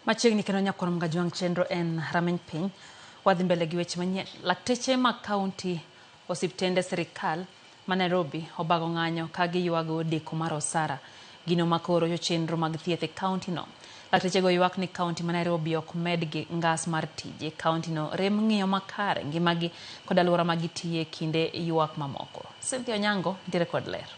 Machiegni kendo nyakwar mga jwang' chenro en rameny piny. Wadhi mbele gi weche manyien. Lakteche mag kaunti osiptende sirikal ma Nairobi obago ng'anyo ka giywago deko mar osara. Gino ma koro yo chenro mag thieth e kauntino. Laktechego ywak ni kaunti ma Nairobi ok med gi ngas mar tije. Kauntino rem ng'iyo makare ngimagi kod alwora ma gitiye kinde ywak mamoko. Cynthia Onyango nitiere kod ler.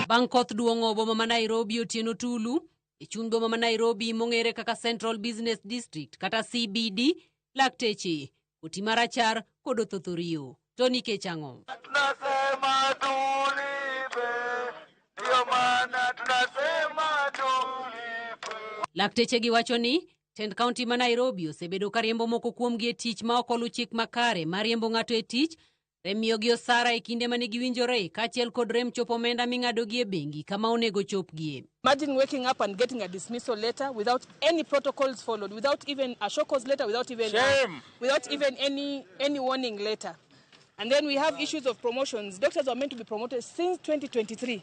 Bang' koth duong'o boma ma Nairobi otieno tulu, e chuny boma ma Nairobi mong'ere kaka Central Business District kata CBD, lakteche oti marachar kod othothorio. To nikech ang'o? Tunasema tulipe, ndio maana tunasema tulipe. Laktechegi wacho ni Tend kaunti ma Nairobi osebedo ka riembo moko kuomgi e tich ma ok oluw chik makare ma riembo ng'ato e tich, rem miyogi osara e kinde ma ne giwinjore, kaachiel kod rem chopo omenda ming'adogi e bengi kama onego chopgie. Imagine waking up and getting a dismissal letter without any protocols followed, without even a show cause letter, without even uh, Shame. A, without even any any warning letter. And then we have issues of promotions. Doctors were meant to be promoted since 2023.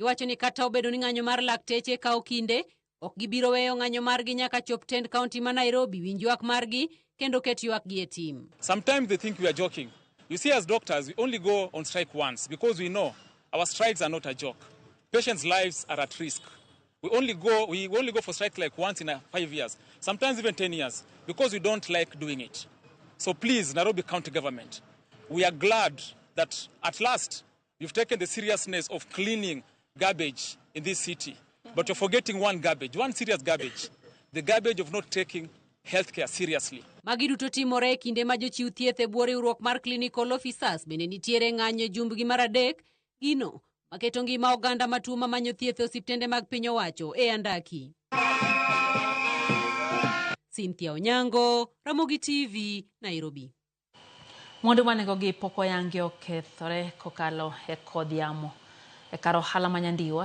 Giwacho ni kata obedo ni ng'anyo mar lakteche kawo kinde, ok gibiro weyo ng'anyo margi nyaka chop tend kaunti ma Nairobi winj ywak margi kendo ket ywakgi e tim. Sometimes they think we are joking. You see, as doctors, we only go on strike once because we know our strikes are not a joke. Patients' lives are at risk. We only go, we only go for strike like once in a five years, sometimes even 10 years, because we don't like doing it. So please, Nairobi County government, we are glad that at last You've taken the seriousness of cleaning garbage in this city, but you're forgetting one garbage, one serious garbage, the garbage of not taking healthcare seriously. Magi duto timore e kinde ma jochiw thieth e bwo riwruok mar clinical officers bende nitiere ng'anyo e jumbgi mar adek gino maketo ngima oganda matuo mamanyo thieth e osiptende mag piny owacho e andaki. Cynthia Onyango, Ramogi TV, Nairobi. Mwandu manegogi pok oyang gi okethore kokalo e kodh yamo. E kar ohala ma Nyandiwa,